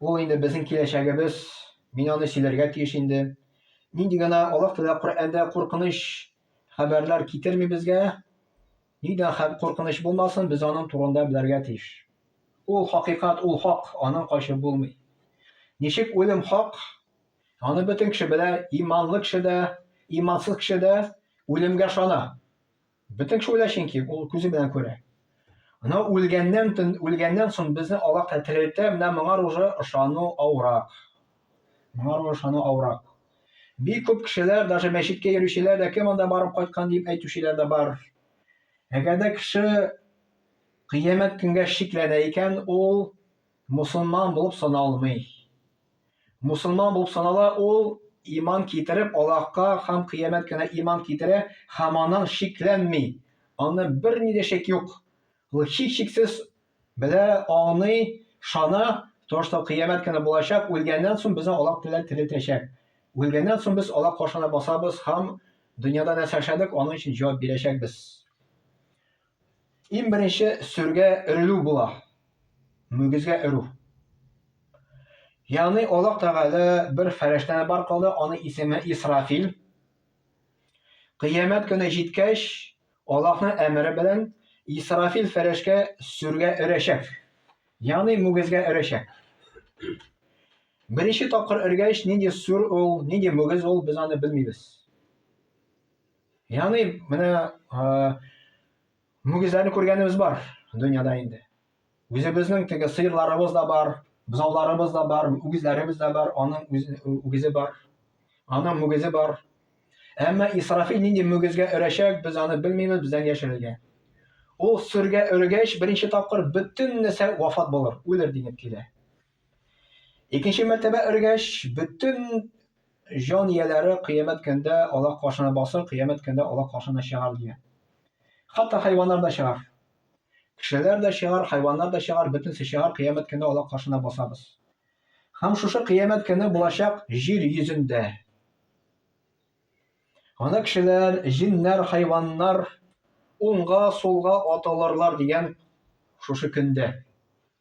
Ул инде безнең киләчәгебез, мин аны сөйләргә тиеш инде. Нинди генә Аллаһ Тәгалә Коръәндә куркыныч хәбәрләр китерми безгә, нидә хәб куркыныч булмасын, без аның турында белергә тиеш. Ул хакыйкат, ул хак, аның качып булмый. Ничек үлем хак, аны бөтен кеше белә, иманлы кеше дә, имансыз кеше дә үлемгә шана. Бөтен кеше үлә чөнки, ул күзе белән күрә. Анау үлгәннән, үлгәннән соң безне Аллаһ та терелтә, менә моңар уже ышану авырак. Моңар уже ышану авырак. Бик күп кешеләр, даже мәчеткә йөрүчеләр дә кем анда барып кайткан дип әйтүчеләр дә бар. Әгәр дә кеше кыямәт көнгә шикләнә икән, ул Мусулман булып саналмый. Мусулман булып санала ул иман китереп Аллаһка һәм кыямәт кенә иман китерә һәм аннан шикләнми. Аны бер ни дә шик юк. Ул һич шиксез белә, аңлый, шана, тошта кыямәт кенә булачак, үлгәннән соң безне Аллаһ теләп терелтәчәк. Үлгәннән соң без Аллаһ каршына басабыз һәм дөньяда нәрсә эшләдек, аның өчен җавап бирәчәкбез. Иң беренче сөргә өрелү була. Мөгезгә өрү. Ягъни Аллаһ Тәгалә бер фәрештәне бар кылды, аның исеме Исрафил. Кыямәт көне җиткәч, Аллаһның әмере белән Исрафил фәрешкә сөргә өрәчәк. Ягъни мөгезгә өрәчәк. Беренче тапкыр өргәч, нинди сүр ул, нинди мөгез ул, без аны белмибез. Яни менә мөгезләрне күргәнебез бар дөньяда инде. Үзебезнең теге сыерларыбыз да бар, бозауларыбыз да бар, үгезләребез дә бар, аның үгезе бар, аның мөгезе бар. Әмма Исрафил нинди мөгезгә өрәчәк, без аны белмибез, бездән яшерелгән. Ул сөргә өргәч, беренче тапкыр бөтен нәрсә вафат булыр, үлер дигән килә. Икенче мәртәбә өргәч, бөтен җан ияләре кыямәт көндә алак каршына басыр, кыямәт көндә алак каршына чыгар дигән. Хатта хайваннар да чыгар. Кешеләр дә чыгар, хайваннар да чыгар, бөтенесе чыгар, кыямәт көндә алак каршына басабыз. Һәм шушы кыямәт көне булачак җир йөзендә. Ана кешеләр, җиннәр, хайваннар уңга, сулга аталырлар дигән шушы көндә.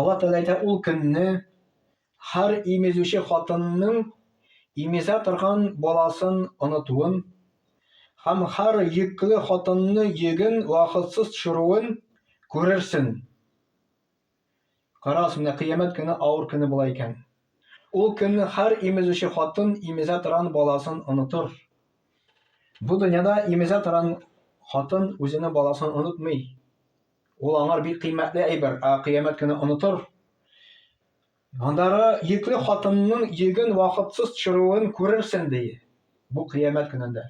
Алла Тәгалә әйтә, ул көнне һәр имезүче хатынның имезә торган баласын онытуын һәм һәр йөкле хатынны йөген вакытсыз төшерүен күрерсен. Карагыз, менә кыямәт көне авыр көне була икән. Ул көнне һәр имезүче хатын имезә торган баласын онытыр. Бу дөньяда имезә торган хатын үзенең баласын онытмый. Ул аңар бик кыйммәтле әйбер, ә кыямәт көне онытыр. Андагы йөкле хатынның йөген вакытсыз төшерүен күрерсең, ди. Бу кыямәт көнендә.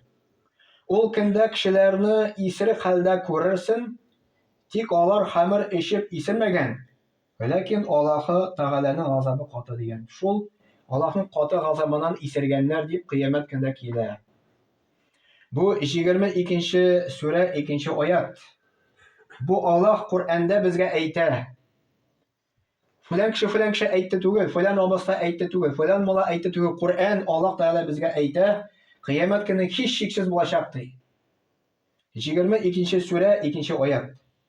Ул көндә кешеләрне исерек хәлдә күрерсең, тик алар хәмер эчеп исермәгән, Ләкин Аллаһы Тәгаләнең газабы каты дигән шул, Аллаһның каты газабыннан исергәннәр дип кыямәт көндә килә. Бу 22 нче сүрә 2 нче аят. Бу Аллаһ Коръәндә безгә әйтә. Фәлән кеше фәлән кеше әйтте түгел, фәлән абыста әйтте түгел, фәлән мала әйтте түгел. Коръән Аллаһ Тәгалә безгә әйтә, кыямәт көне һич шиксез булачак ди. 22 нче сүрә 2 нче аят.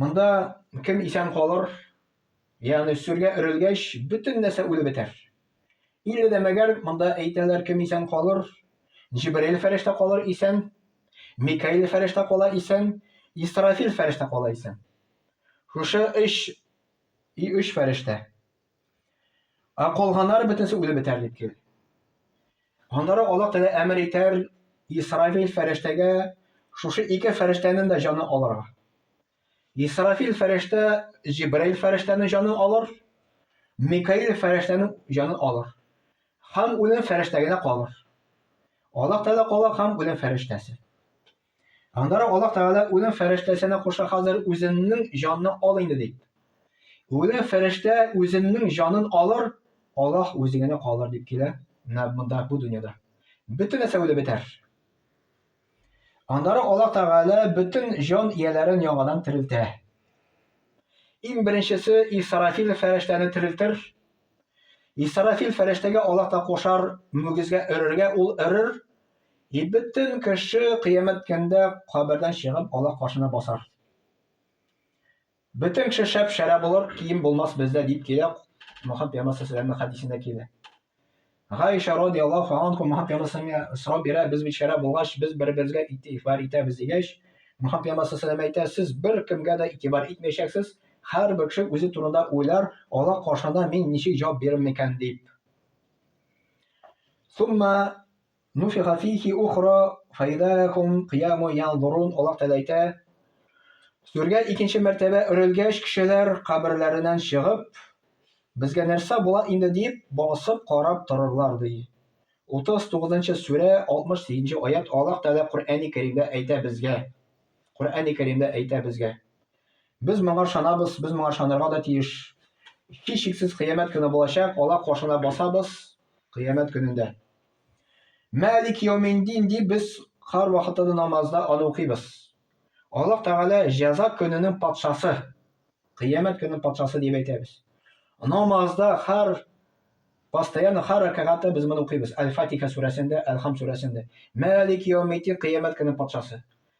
Монда кем исән калыр, ягъни сүргә өрелгәч, бөтен нәрсә үлеп бетәр. Илле дә мәгәр монда әйтәләр, кем исән калыр, Җибраил фәрештә калыр исән, Микаил фәрештә кала исән, Исрафил фәрештә кала исән. Шушы өч и өч фәрештә. Ә калганнары бөтенесе үлеп бетәр дип кил. Аннары Аллаһ Тәгалә әмер итәр Исрафил фәрештәгә шушы ике фәрештәнең дә җаны алырга. Исрафил фәрештә Җибраил фәрештәнең җаны алыр, Микаил фәрештәнең җаны алыр. Һәм үлем фәрештәгенә калыр. Аллаһ Тәгалә кала һәм үлем фәрештәсе. Аннары Аллаһ Тәгалә үлем фәрештәсенә куша хәзер үземнең җанны ал инде дип. Үлем фәрештә үземнең җанын алыр, Аллаһ үзе генә калыр дип килә, менә монда бу дөньяда. Бөтен нәрсә үлеп бетәр. Аннары Аллаһ Тәгалә бөтен җан ияләрен яңадан терелтә. Иң беренчесе Исрафил фәрештәне терелтер. Исрафил фәрештәгә Аллаһ та кушар, мөгезгә өрергә, ул өрер, И бөтен кеше кыямәт көндә кабердән чыгып Аллаһ каршына басар. Бөтен кеше шәп шәрә булыр, кием булмас бездә дип килә Мөхәммәд пәйгамбәр саллаллаһу хәдисендә килә. Гайша радиаллаһу анха Мөхәммәд пәйгамбәргә сорау бирә, без бит шәрә булгач, без бер-беребезгә игътибар итәбез дигәч, Мөхәммәд пәйгамбәр саллаллаһу әйтә, сез бер кемгә дә игътибар итмәячәксез, һәрбер кеше үзе турында уйлар, Аллаһ каршында мин ничек җавап бирермен икән дип. Сумма Нуфиха фихи ухра фаидахум кыяму янзурун Аллаһ Тәгалә әйтә, Сүргә икенче мәртәбә өрелгәч, кешеләр каберләреннән чыгып, безгә нәрсә була инде дип, басып карап торырлар ди. 39 нчы сүрә, 68 нче аят Аллаһ Тәгалә Коръәни Кәримдә әйтә безгә. Коръәни Кәримдә әйтә безгә. Без моңа ышанабыз, без моңа ышанырга да тиеш. Һичшиксез кыямәт көне булачак, ала кошына басабыз кыямәт көнендә. Мәлик яуминдин дип без һәр вакытта да намазда аны укыйбыз. Аллаһ Тәгалә җәза көненең патшасы, кыямәт көненең патшасы дип әйтәбез. Намазда һәр постоянно һәр рәкәгатьтә без моны укыйбыз. Әл-Фатиха сүрәсендә, Әл-Хам сүрәсендә. Мәлик яуминдин кыямәт көненең патшасы.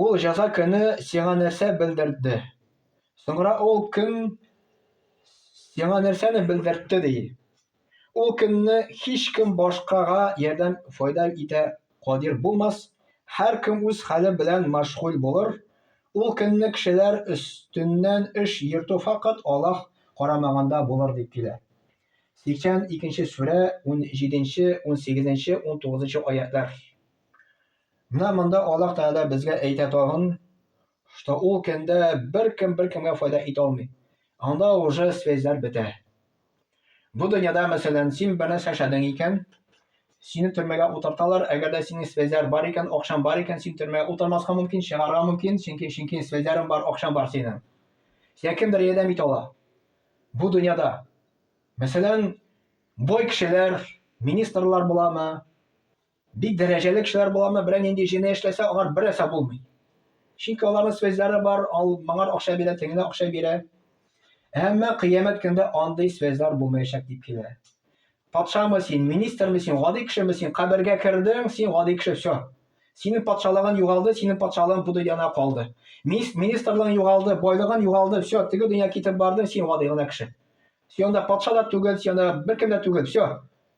Ул җәза көне сиңа нәрсә белдертде? Соңра ул көн сиңа нәрсәне белдертте ди? Ул көнне һич кем башкага ярдәм файда итә кадир булмас, һәр кем үз хәле белән мәшгуль булыр. Ул көнне кешеләр өстеннән эш йөртү факат Аллаһ карамаганда булыр дип килә. 82 нче сүрә, 17 нче, 18 нче, 19 нчы аятьләр. Менә монда Аллаһ Тәгалә безгә әйтә тагын, что ул көндә беркем беркемгә файда итә алмый. Анда уже связьләр бетә. Бу дөньяда, мәсәлән, син бер нәрсә эшләдең икән, сине төрмәгә утырталар, әгәр дә синең связьләр бар икән, акчаң бар икән, син төрмәгә утырмаска мөмкин, чыгарга мөмкин, чөнки чөнки связьләрең бар, акчаң бар синең. Сиңа кемдер ярдәм итә ала. Бу дөньяда. Мәсәлән, бай кешеләр, министрлар буламы, Бик дәрәҗәле кешеләр боларны берәр нинди җене эшләсә, алар бер әсә булмый. Чөнки аларның связьлары бар, ал моңар акча бирә, тегенә акча бирә. Әмма кыямәт көндә андый связьлар булмаячак дип килә. Патшамы син, министрмы син, гади кешеме син, кабергә кердең, син гади кеше, все. Синең патшалыгын югалды, синең патшалыгын бу дөньяна калды. Министрлыгын югалды, байлыгын югалды, все, теге дөнья китеп барды, син гади гына кеше. Сион да патша да түгел, сион да беркем дә түгел, все.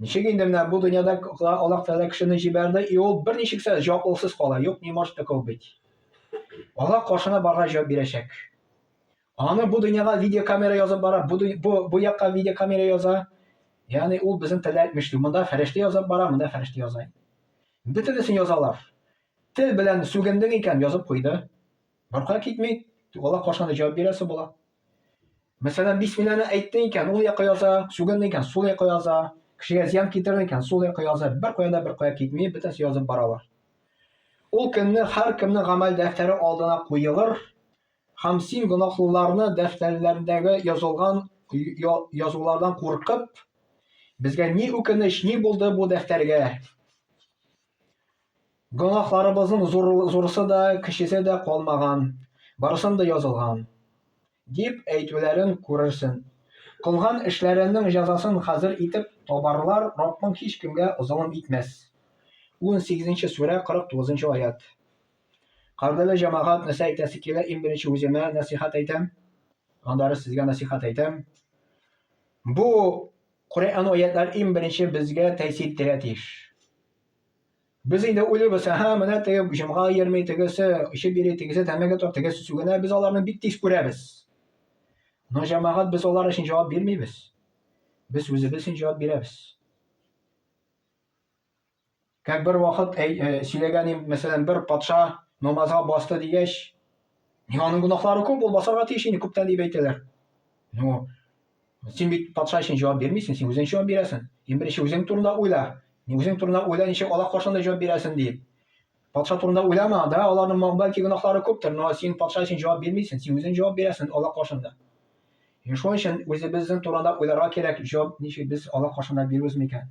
Ничек инде менә бу дөньяда Аллаһ Тәгалә кешене җибәрде, и ул берничек тә җаваплылыксыз кала. Юк, не может такого быть. Аллаһ каршына барга җавап бирәчәк. Аны бу дөньяга видеокамера язып бара, бу, бу, бу якка видеокамера яза. Ягъни ул безнең телдә әйтмешли. Монда фәрештә язып бара, монда фәрештә яза. Бөтенесен язалар. Тел белән сүгендең икән, язып куйды. Арка китми. Алла кашаны җавап бирәсе була. Мәсәлән, бисмилланы әйтте икән, ул якка яза, сүгенде икән, сул якка яза, кешегә зыян китерде икән, сул якка яза, бер кая да бер кая китми, бөтенесе язып баралар. Ул көнне һәркемнең гамәл дәфтәре алдына куелыр, һәм син гөнаһлыларны дәфтәрләрендәге язылган язулардан куркып, безгә ни үкенеч, ни булды бу дәфтәргә? Гөнаһларыбызның зурысы да, кечесе дә калмаган, барысын да язылган, дип әйтүләрен күрерсең. Кылган эшләренең җәзасын хәзер итеп табарлар, Раббың һичкемгә золым итмәс. Унсигезенче сүрә, кырык тугызынчы аять. Кадерле җәмәгать, нәрсә әйтәсе килә, иң беренче үземә нәсыйхәт әйтәм, аннары сезгә нәсыйхәт әйтәм. Бу Коръән аятлар иң беренче безгә тәэсир итәргә тиеш. Без инде уйлыйбыз, һа, менә теге җомга йөрми, тегесе эчеп йөри, тегесе тәмәке тартып, тегесе сүгенә, без аларны бик тиз күрәбез. Но җәмәгать без алар өчен җавап бирмибез. Без үзебез өчен җавап бирәбез. Как бер вакыт әй, э, сөйләгән им, мәсәлән, бер патша намазга басты дигәч, ни аның гөнаһлары күп, ул басарга тиеш инде күптән дип әйтәләр. Ну, син бит патша өчен җавап бирмисең, син үзең җавап бирәсең. Иң беренче үзең турында уйла. Ни үзең турында уйла, ничек Аллаһ каршында җавап бирәсең дип. Патша турында уйлама, да, аларның ма- бәлки гөнаһлары күптер, но син патша өчен җавап бирмисең, син үзең җавап бирәсең Аллаһ каршында. Ин шуның өчен үзебезнең турында уйларга кирәк, җавап ничек без Аллаһ каршында бирүбез микән?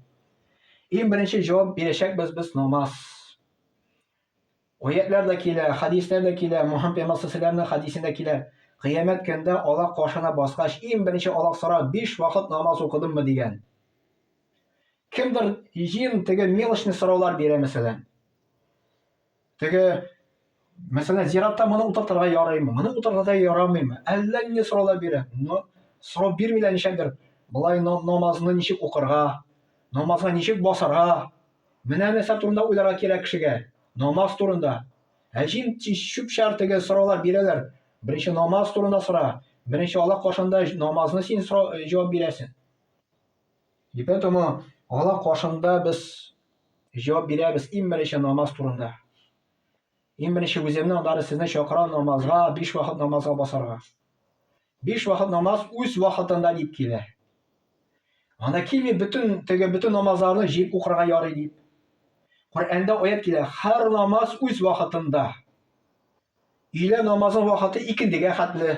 Иң беренче җавап бирәчәкбез без намаз. Аятлар да килә, хадислар да килә, Мухаммад пәйгамбәр саллаллаһу хадисендә килә. Кыямәт көндә Аллаһ каршына баскач, иң беренче Аллаһ сорар, биш вакыт намаз укыдыммы дигән. Кемдер җыен теге мелочный сораулар бирә мәсәлән. Теге мәсәлән зиратта моны утыртырга ярыймы, моны утыртырга да ярамыймы? Әллә нинди сораулар бирә. Но сорау бирмиләр ничәдер. Болай намазны ничек укырга, намазга ничек басарга? Менә нәрсә турында уйларга кирәк кешегә. Намаз турында. Ә җин чүп чар теге сораулар бирәләр. Беренче намаз турында сора. Беренче Аллаһ каршында намазны син җавап бирәсең. И поэтому Алла каршында без җавап бирәбез иң беренче намаз турында. Иң беренче үземне, аннары сезне чакырам намазга, биш вакыт намазга басарга. Биш вакыт намаз үз вакытында дип килә. Анда килми бөтен теге бөтен намазларны җыеп укырга ярый дип. Коръәндә аят килә, һәр намаз үз вакытында. Өйлә намазы вакыты икендегә хәтле.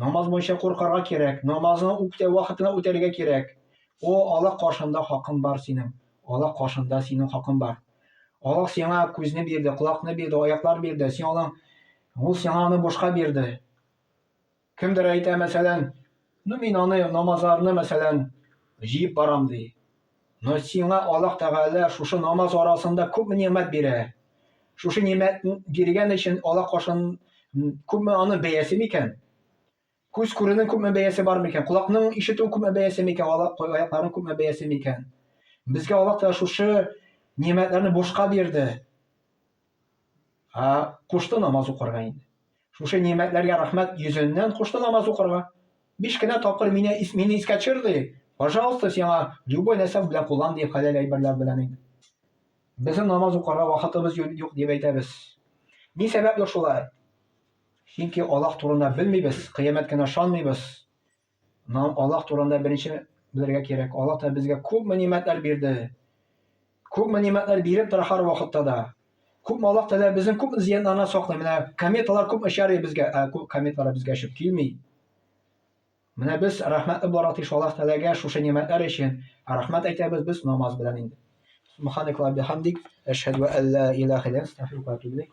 Намаз буенча куркарга кирәк, намазны үктә вакытына үтәргә кирәк. О, Аллаһ каршында хакың бар синең, Аллаһ каршында синең хакың бар. Аллаһ сиңа күзне бирде, колакны бирде, аяклар бирде, син аның, ул сиңа аны бушка бирде. Кемдер әйтә, мәсәлән, ну мин аны намазларны, мәсәлән, җыеп барам, ди. Но сиңа Аллаһ Тәгалә шушы намаз арасында күпме нимәт бирә. Шушы нимәт биргән өчен Аллаһ каршын күпме аны бәясе микән? Күз күрүнең күпме бәясе бар микән? Колакның ишетү күпме бәясе микән? Аякларның күпме бәясе микән? Безгә Аллаһ Тәгалә шушы нимәтләрне бушка бирде. Ә кушты намаз укырга инде. Шушы нигъмәтләргә рәхмәт йөзеннән кушты намаз укырга. Биш кенә тапкыр мине мине искә төшер ди. Пожалуйста, сиңа любой нәрсә белән куллан ди хәләл әйберләр белән инде. Безнең намаз укырга вакытыбыз юк дип әйтәбез. Ни сәбәпле шулай? Чөнки Аллаһ турында белмибез, кыямәт кенә ышанмыйбыз. Нам Аллах турында беренче белергә кирәк. Аллах та безгә күп мәгълүматлар бирде. Күп мәгълүматлар биреп тора һәр вакытта да. Күп Аллах та безнең күп зыяннарны саклый. Менә кометалар күп очар безгә, ә күп кометалар безгә очып килми. Менә без рәхмәтле буларга тиеш Аллах Тәгаләгә шушы нигъмәтләр өчен. Рәхмәт әйтәбез без намаз белән инде. Субханак ва бихамдик, әшһәду ан ла илаһа илля анта, астагфирука ва атубу илейк.